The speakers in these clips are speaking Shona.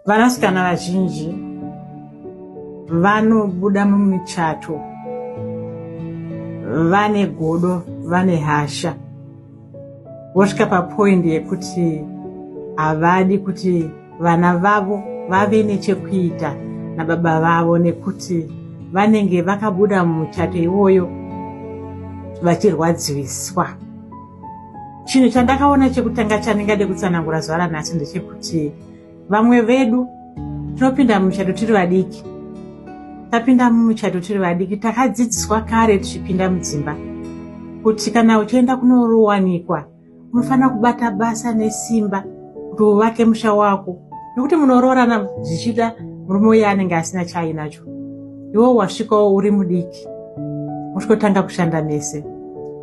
Vanasikana vazhinji vanobuda mumichato vane godo vane hasha vosvika papoindi yekuti havadi kuti vana vavo vave nechekuita nababa vavo nekuti vanenge vakabuda mumuchato iwoyo vachirwadziwiswa Chinhu chandakaona chekutanga chandingade kutsanangura zuva ranhasi ndechekuti vamwe vedu tinopinda mumuchato tiri vadiki tapinda mumuchato tiri vadiki takadzidziswa kare tichipinda mudzimba kuti kana uchienda kunorowanikwa unofanira kubata basa nesimba kuti uvake musha wako nekuti munoroorana zvichida murume uye anenge asina chaainacho iwo wasvikawo uri mudiki mosvikotanga kushanda mese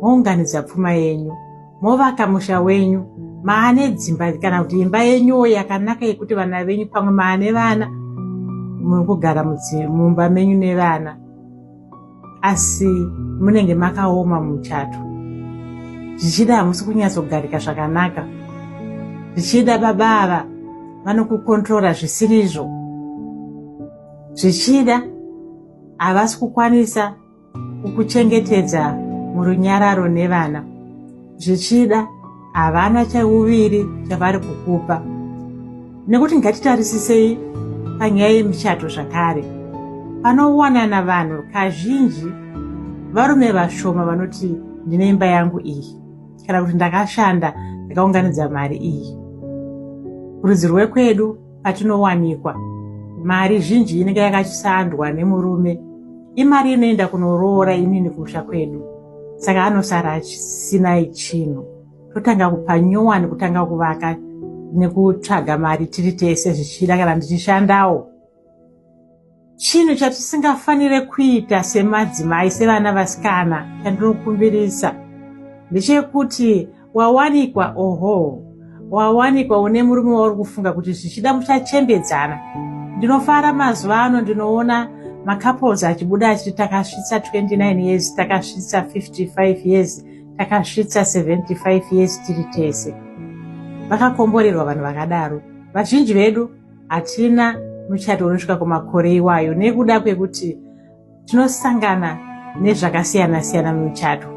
mounganidza pfuma yenyu movaka musha wenyu maane dzimba kana kuti imba yenyuwo yakanaka yekuti vana venyu pamwe maane vana muri kugara mumba menyu nevana asi munenge makaoma muchato zvichida hamusi kunyatsogarika zvakanaka zvichida baba ava vanokukontrora zvisirizvo zvichida havasi kukwanisa kukuchengetedza murunyararo nevana zvichida havana chauviri chavari kukupa nekuti ngatitarisisei panyaya yemichato zvakare panowanana vanhu kazhinji varume vashoma vanoti ndine imba yangu iyi kana kuti ndakashanda ndakaunganidza mari iyi rudzi rwekwedu patinowanikwa mari zhinji inenge yakashandwa nemurume imari inoenda kunoroora inini kumusha kwedu saka anosara asina chinhu totanga kupa nyowani kutanga kuvaka nekutsvaga mari tiri tese zvichida kana ndichishandawo chinhu chatisingafanire kuita semadzimai sevana vasikana chandinokumbirisa ndechekuti wawanikwa oho wawanikwa une murume wauri kufunga kuti zvichida muchachembedzana ndinofara mazuva ano ndinoona macouples achibuda achiti takasvitsa 29 years takasvitsa 55 years takasvitsa 75 years tiri tese vakakomborerwa vanhu vakadaro vazhinji vedu hatina muchato unosvika kumakore iwayo nekuda kwekuti tinosangana nezvakasiyana siyana mumichato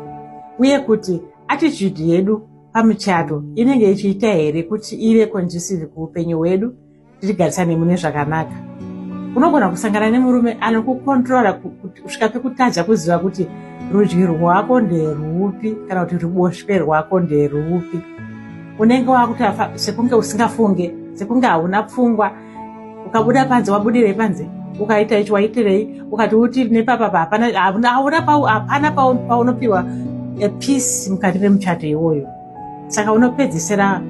uye kuti attitude yedu pamuchato inenge ichiita here kuti ive conducive kuupenyu hwedu tirigarisane mune zvakanaka unogona kusangana nemurume anokukontrola kusvika pekutadza kuziva kuti rudyi rwako nderwupi kana kuti ruboshwe rwako nderwupi unenge wakutafa sekunge usingafunge sekunge hauna pfungwa ukabuda panze wabudirei panze ukaita ichi waitirei ukati uti nepapapa hapana paunopiwa peace mukati memuchato iwoyo saka unopedzisira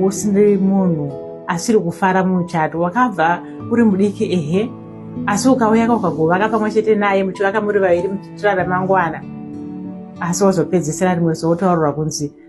usiri munhu asiri kufara mumuchato wakabva uri mudiki ehe asi ukauya ka ukagovaka pamwe chete naye muchivaka muri vaviri muchitirara mangwana asi wazopedzisira rimwe zuva wotaurira kunzi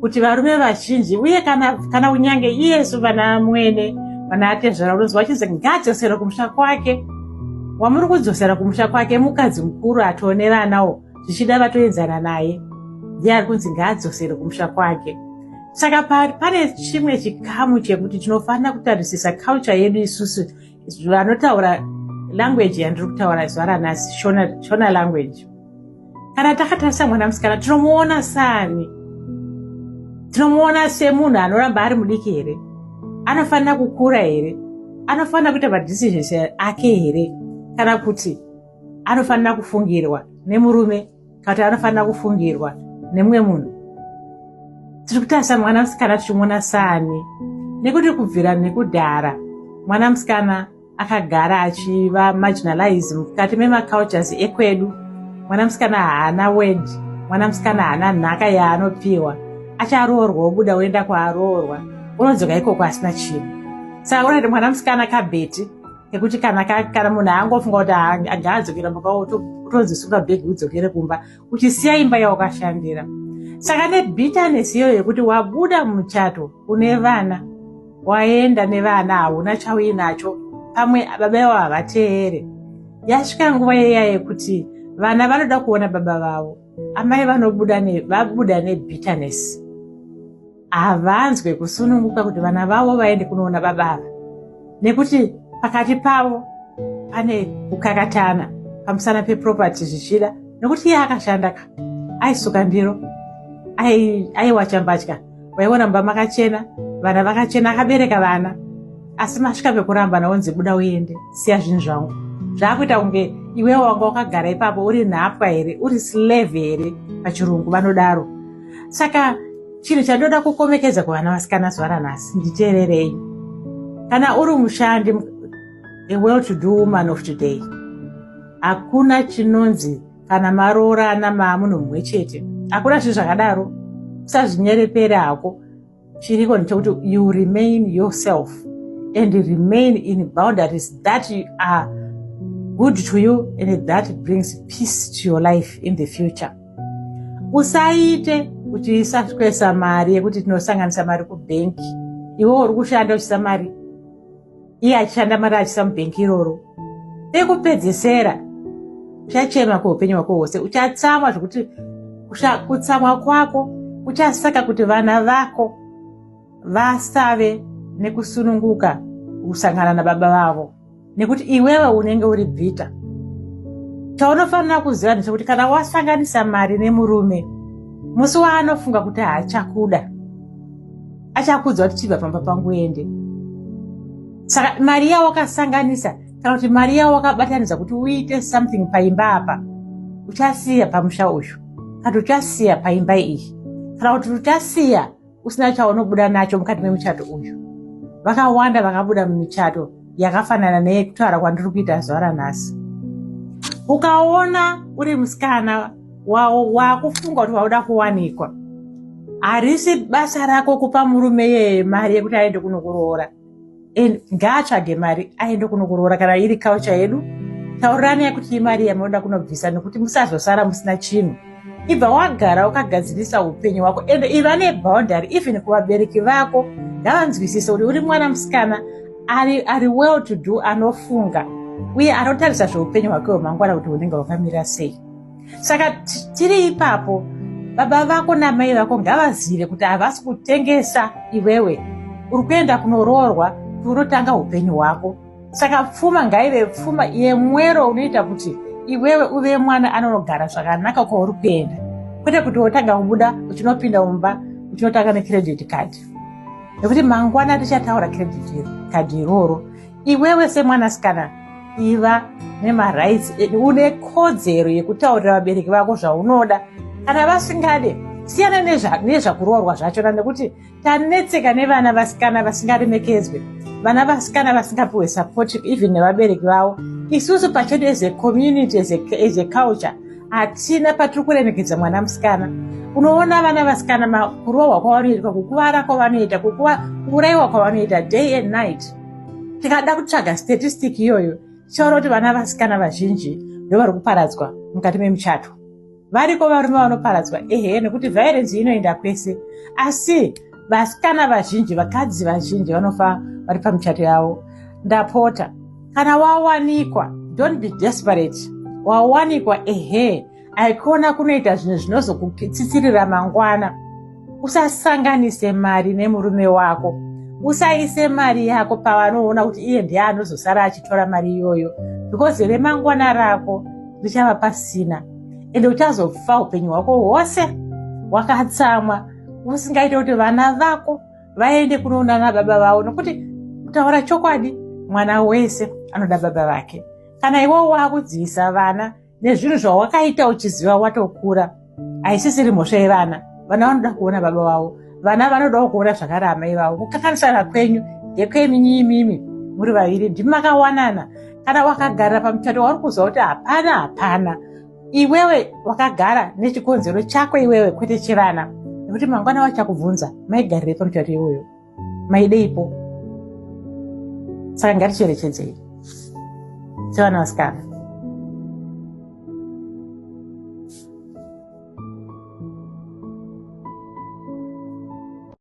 kuti varume vazhinji uye kana, kana kunyange iyesu vana mwene vana atezvara unonzwa vachinzi ngaadzosere kumusha kwake wamuri kudzosera kumusha kwake mukadzi mukuru atooneranawo zvichida vatoenzana naye ndiye ari kunzi ngaadzosere kumusha kwake saka pane chimwe chikamu chekuti tinofanira kutarisisa culture yedu isusu vanotaura language yandiri kutaura zuva ranhasi shona, shona language kana takatarisa mwana musikana tinomuona sani tinomuona semunhu anoramba ari mudiki here anofanira kukura here anofanira kuita madecisions ake here kana kuti anofanira kufungirwa nemurume kana kuti anofanira kufungirwa nemumwe munhu tiri kutarisa mwana musikana tichimuona saani nekuti kubvira nekudhara mwana musikana akagara achiva marginalize mukati memacultures ekwedu mwana musikana haana word mwana musikana haana nhaka yaanopiwa acharoorwa obuda oenda kwaaroorwa unodzoka ikoko asina chinhu saka unati mwana musikana kabheti nekuti kana kana munhu aangofunga kuti agaadzokera mumba utonzi sunga bhegi udzokere kumba uchisiya imba yawakashandira saka nebitterness iyo yekuti wabuda muchato une vana waenda nevana hauna chauinacho pamwe baba ivo havateere yasvika nguva yeya yekuti vana vanoda kuona baba vavo amai vanobuda vabuda nebitterness havanzwe kusununguka kuti vana vavo vaende kunoona baba ava nekuti pakati pavo pane kukakatana pamusana peproperty zvichida nekuti iye akashanda ka aisuka ndiro aiwacha mbatya vaiona mumba makachena vana vakachena akabereka vana asi masvika pekuramba naonzi buda uende siya zvinhu zvangu zvaakuita kunge iwewo wanga wakagara ipapo uri nhapwa here uri slave here pachirungu vanodaro saka chinhu chandoda kukomekedza kuvana vasikana zuva ranhasi nditeererei kana uri mushandi a well to do woman of today hakuna chinonzi kana maroorana maamunhu mumwe chete hakuna zvinhu zvakadaro usazvinyerepere hako chiriko ndechekuti you remain yourself and remain in boundaries that you are good to you and that brings peace to your life in the future usaite kuti isakwesa mari yekuti tinosanganisa mari kubhenki iwe uri kushanda uchisa mari iye achishanda mari achisa mubhengi iroro pekupedzesera uchachema kweupenyu hwako hwose uchatsamwa zvekuti kutsamwa kwako kuchasaka kuti vana vako vasave nekusununguka kusangana nababa vavo nekuti iwewe unenge uri bvita chaunofanira kuziva ndechekuti kana wasanganisa mari nemurume musi waanofunga kuti haachakuda achakuudza kuti chibva pamba pangu ende saka mari yawakasanganisa kana kuti mari yawakabatanidza kuti uite something paimba apa uchasiya pamusha uyu kana uchasiya paimba iyi kana kuti uchasiya usina chaunobuda nacho mukati memuchato uyu vakawanda vakabuda mumichato yakafanana neyekutaura kwandiri kuita zuva ranhasi ukaona uri musikana wakufunga kuti wauda kuwanikwa harisi basa rako kupa murume yeye mari yekuti aende kunokuroora and ngaatsvage mari aende kunokuroora kana iri kaucha yedu taurirani yekuti imari yamunoda kunobvisa nekuti musazosara musina chinhu ibva wagara ukagadzirisa upenyu hwako and iva neboundary even kuvabereki vako ngavanzwisise kuti uri mwana musikana ari, ari well to do anofunga uye anotarisa zveupenyu hwake hwemangwana kuti hunenge hwakamira sei saka tiri ipapo baba vako namai vako ngavazive kuti havasi kutengesa iwewe uri kuenda kunoroorwa kuti unotanga upenyu hwako saka pfuma ngaive pfuma yemwero unoita kuti iwewe uve mwana anonogara zvakanaka kwauri kuenda kwete kuti wotanga kubuda uchinopinda mumba uchinotanga necredit card nekuti mangwana tichataura credit card iroro iwewe semwanasikana iva nemarights edu une kodzero yekutaurira vabereki vako zvaunoda kana vasingade siyana nezvakuroorwa zvachona nekuti tanetseka nevana vasikana vasingaremekedzwe vana vasikana vasingapiwe support even nevabereki vavo isusu pachedu as a community as a culture hatina patiri kuremekedza mwana musikana unoona vana vasikana kurohwa kwavanoitwa kukuvara kwavanoita kuurayiwa kwavanoita day and night tikada kutsvaga statistic iyoyo tichaona kuti vana vasikana vazhinji ndovari kuparadzwa mukati memuchato variko varume vanoparadzwa ehe nekuti vairenzi inoenda kwese asi vasikana vazhinji vakadzi vazhinji vanofa vari pamuchato yavo ndapota kana wawanikwa don't be desperate wawanikwa ehe aikona kunoita zvinhu zvinozokukitsitsirira mangwana usasanganise mari nemurume wako usaise mari yako pavanoona kuti iye ndiye anozosara achitora mari iyoyo because remangwana rako richava pasina ende uchazofa upenyu hwako hwose wakatsamwa usingaite kuti vana vako vaende kunoona na baba vavo nokuti kutaura chokwadi mwana wese anoda baba vake kana iwo wakudzivisa vana nezvinhu zvawakaita uchiziva watokura haisisiri mhosva yevana vana vanoda kuona baba vavo vana vanodawo kuona zvakare amai vavo kukakanisana kwenyu ndekweminyi imimi muri vaviri ndimi makawanana kana wakagarira pamuchato wauri kuziva kuti hapana hapana iwewe wakagara nechikonzero chako iwewe kwete chevana nekuti mangwana wachakubvunza maigarirei pamuchato iwoyo maideipo saka ngaticherechedzei sevana vasikana